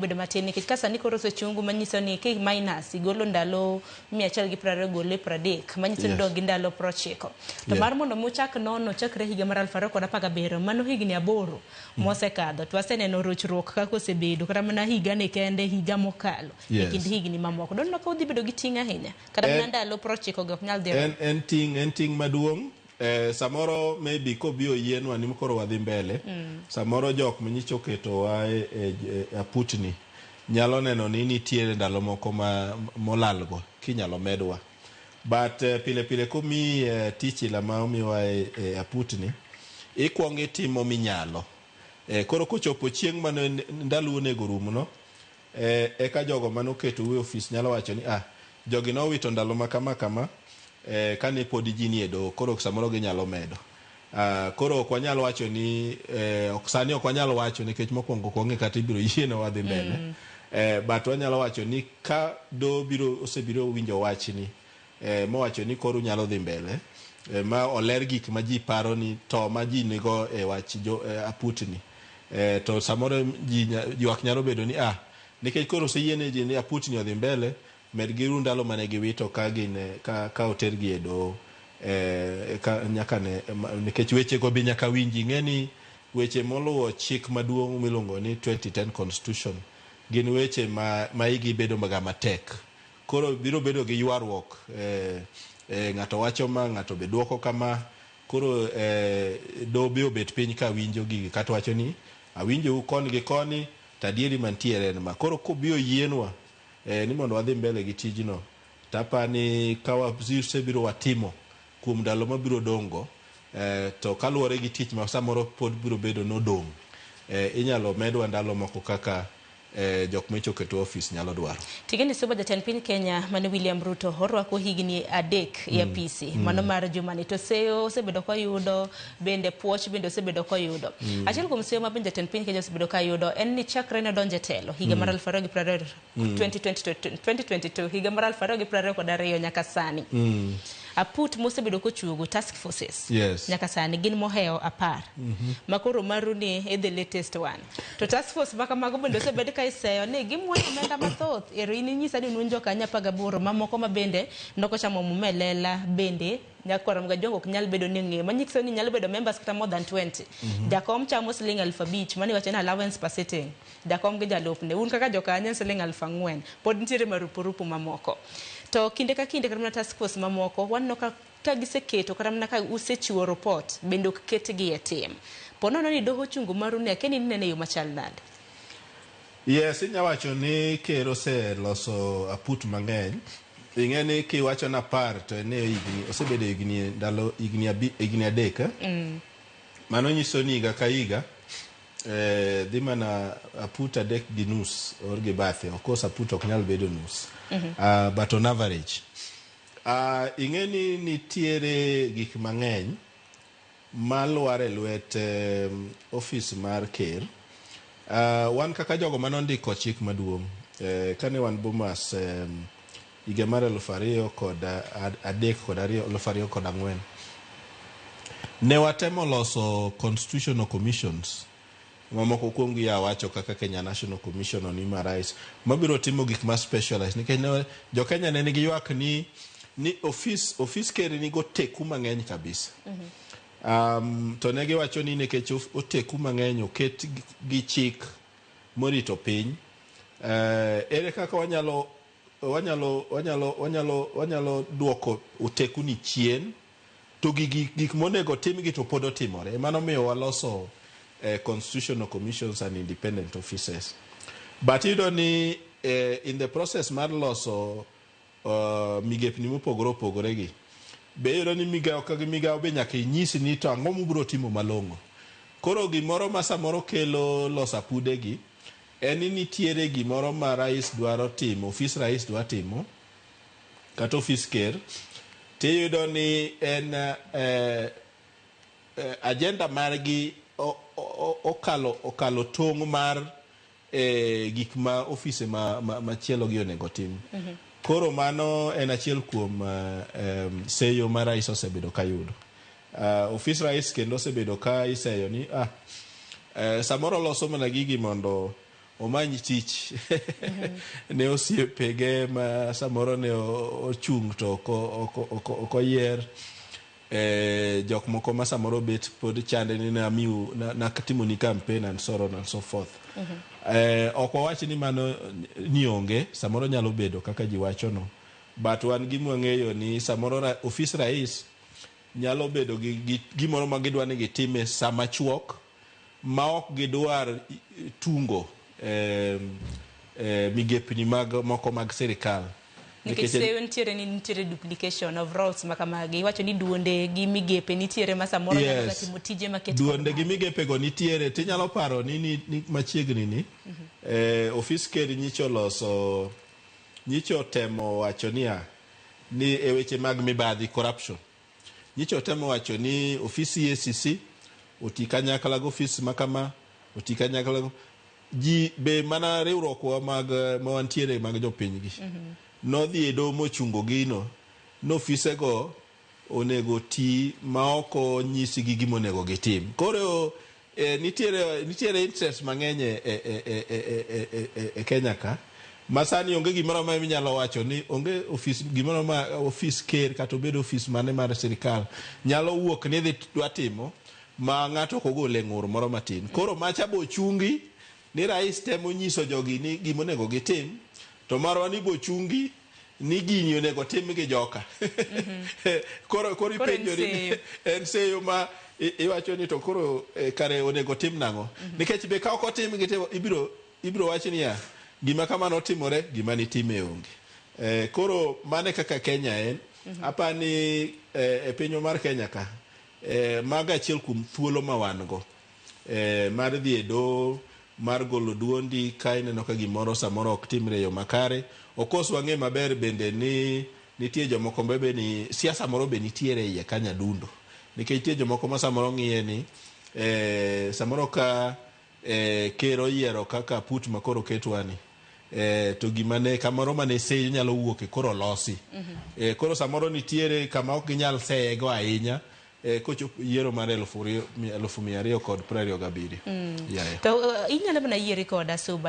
bedo matin nikech ka sani koro osechungu manyiso ni ki minus igolo ndalo mia achiel gi piero ariyo gole piero adek manyiso ni Yes. dog gi ndalo piero ochiko to Yeah. mar mondo mi uchak nono chakre higa mar aluf ariyo kod apar gabiriyo mano higni aboro mosekadho to aseneno rochruok kaka osebedo kata mana higa ni kende higa mokalo e Yes. kind higni mamoko donno ka udhi bedo gi ting' ahinya kata mana En- ndalo piero ochiko go ok nyal dhi en, en ting' en ting' maduong' Eh, samoro maybe kobi oyienwa ni koro wadhi mbele mm. samoro jok manyicha oketowa e, e, e aputni nyalo neno ni nitiere ndalo moko ma molalgo kinyalo medwa but eh, pile pile komi eh, tich ila ma omiwa e, e aputni ikwongo itimo minyalo eh, koro kochopo chieng' mane ndalo onego rumno Ee, eka jogo ma noketou e ofis nyalo wacho ni, 'Ah, jogi nowito ndalo ma kama kama e, ka ne podi ji nie doho, koro samoro ginyalo medo. Ah, koro ok wanyal wacho ni, e, ok, sani ok wanyal wacho nikech mokwongo ok wang'e kata ibiro yienwa wadhi mbele. E, but wanyalo wacho ni ka doho biro, osebiro owinjo wachni, eh, mowacho ni koro unyalo dhi mbele eh, ma oler gik ma ji paro ni to ma ji nigo e wach jo, eh, aputni eh, to samoro ji nya- ywak nyalo bedo ni ah nikech koro oseyiene ji ni aputni odhi mbele med giru ndalo mane giwito ka gin eh, ka, ka otergi e doho eh, ka, nyaka ne ma- nikech wechego be nyaka winji ng'e ni weche moluwo chik maduong' miluongo ni 2010 constitution gin weche ma, ma igi bedo maga matek Koro biro bedo gi ywaruok, eh, ng'ato wacho ma, ng'ato be dwoko kama. Koro eh, doho be obet piny ka winjo gigi kato wacho ni awinjou koni gi koni to adieri mantiere en ma. Koro kobi oyienwa eh, ni mondo wadhi mbele gi tijno to apa ni ka wasebiro watimo kuom ndalo mabiro dong' go eh, to kaluwore gi tich ma samoro pod biro bedo nodong' eh, inyalo medwa ndalo moko kaka eh, jok ma ichoke to office nyalo dwaro. Tigende Suba jatend piny Kenya mane William Ruto orwako higni adek e apisi mano mar jumani to seyo osebedo koyudo bende puoch bende osebedo koyudo. Achiel kuom seyo ma bende jatend piny Kenya osebedo kayudo en ni chakre ne donje telo higa mar 2022 2022 higa mar 2022 kod ariyo nyaka sani. Aput mosebedo kochuogo task forces yes. nyaka sani gin mohewo apar mm -hmm. makoro maru ni e the latest one to task force maka mago bende osebed ka iseyo ni gimwoyo omenda mathoth ero in inyisa ni nun jokanya apar gaboro mamoko ma bende nokochamo mumelela bende nyakwaro mga jongo ok nyal bedo ni ng'eyo manyiso ni nyalo bedo members kata more than 20 mm -hmm. jakom chamo siling aluf abich mani wacho ni allowance per sitting Jakom gi jalupne, un kaka jokanye en siling' aluf ang'wen. Pod nitiere marupurupu mamoko. To kinde ka kinde kata mana task force mamoko waneno ka ka giseketo kata mana ka usechiwo rupot bende ok ketgi e tim. Po nono ni doho ochungo maru ni akiani ni inene e yo machal nade? Yes, inya wacho ni ker oseloso aput mang'eny. Ing'e ni kiwacho ni apar to en e higni, osebedo higni ndalo higni abi, higni adek. eh? Mano nyiso ni higa ka higa Eh, dhi mana aput adek gi nus or gi bathe of course aput ok nyal bedo nus mhm. ah, but on average ah, ing'e ni nitiere gik mang'eny malwar e lwet ofis mar ker ah, wan kaka jogo mane ondiko chik maduong' eh, kane wan bomas higa mar elufu ariyo kod adek kod ariyo elufu ariyo kod ang'wen ne watemo loso constitutional commissions mamoko kuom gi awacho kaka Kenya National Commission on Human Rights mabiro timo gik ma specialized nikech ne jo Kenya ne nigi ywak ni ni ofis ofis ker nigo teku mang'eny kabisa um, to ne giwacho ni nikech of- oteku mang'eny oket gi- gi chik morito piny eh, ere kaka wanyalo Wanyalo wanyalo wanyalo wanyalo duoko otekuni chien to gigi gik monego timgi to pod otimore. Emano miyo waloso eh, constitutional commissions and independent offices. But iyudo ni eh, in the process mar loso uh, migepni mopogore opogore gi be iyudo ni migawo ka gi migawo be nyaka inyisi ni to ang'o mubiro timo malong'o. Koro gimoro ma samoro kelo losa pudegi En ni nitiere gimoro ma rais dwaro timo, ofis rais dwa timo kata ofis ker tiyudo ni en agenda margi okalo okalo tong' mar gik ma ofise machielo gi onego tim. Koro mano en achiel kuom seyo ma rais osebedo kayudo. Uh, ofis rais kendo osebedo ka iseyo ni ah, uh, samoro oloso mana gigi mondo omany tich ne osiepege ma samoro ne ochung' to ok oyier eh, jok moko ma samoro bet pod chande ni namiu natimoni campaign and so on and so forth mhm. eh, ok wawach ni mano ni onge samoro nyalo bedo kaka ji wachono but wan gi mwang'eyo ni samoro ofis rais nyalo bedo gi, gi gimoro ma gidwa ni gitim e sa machuok ma ok gidwar tungo eh, eh, migepni mag, moko mag sirikal nikech seyo nitiere ni nitiere duplication of roles ma kamagi iwacho ni duonde gi migepe nitiere ma samoro Yes. nyalo timo tije maket duonde gi migepego nitiere tinyalo paro ni, ni, ni machiegni ni eh, ofis ker nyicho loso nyicho temo wacho niya ni e weche mag mibadhi, corruption, nyicha otemo wacho ni ofis EACC oti kanyakla gi ofis ma kama, oti kanyakla gi ji be mana riwruokwa mag ma wantiere mag jopiny gi. Nodhi e doho mochungo gino ni ofisego onego oti maok onyisgi gima onego gitim. Koro nitiere nitiere interest mang'eny e, e, e, e, e, e, e, e, e Kenya ka ma sani onge gimoro amora minyalo wacho ni onge ofis gimoro ma ofis ker kata obed ofis mane mar sirkal nyalo wuok ni dhi dwa timo ma ng'ato ok ogole ng'ur moro matin. Koro macha bochungi ni rais temo nyiso jogi ni gima onego gitim to marwa ni bochungi ni gini onego tim gi joka koro koro Koro en ipenjori ni- seyo. en seyo ma i- iwacho ni to koro eh, kare onego tim nang'o nikech be ka ok otim gi te- ibiro ibiro wach niya gima kamano otimore gima nitime onge Eh, koro mane kaka kenya en apa ni eh, e pinywa mar kenya ka eh, mago achiel kuom thuolo ma wan go eh, mar dhi e doho mar golo duondi ka ineno ka gimoro samoro ok timre e yo makare okos wang'e maber bende ni nitie jomoko bebe ni siasa moro be nitiere iye ka nyadundo nikech nitie jomoko ma samoro ng'iye ni eh, samoro ka eh, ker oyiero kaka put ma koro ketwani eh, to gima ne kamoro mane seyo nyalo wuok e koro losi eh, koro samoro nitiere kama ok ginyal seyego ahinya eh, kochop yiero mar elufu ri- mi- elufu mia ariyo kod prariyo gabiriyo Yeah, yeah. To uh, inyalo mana yieri koda suba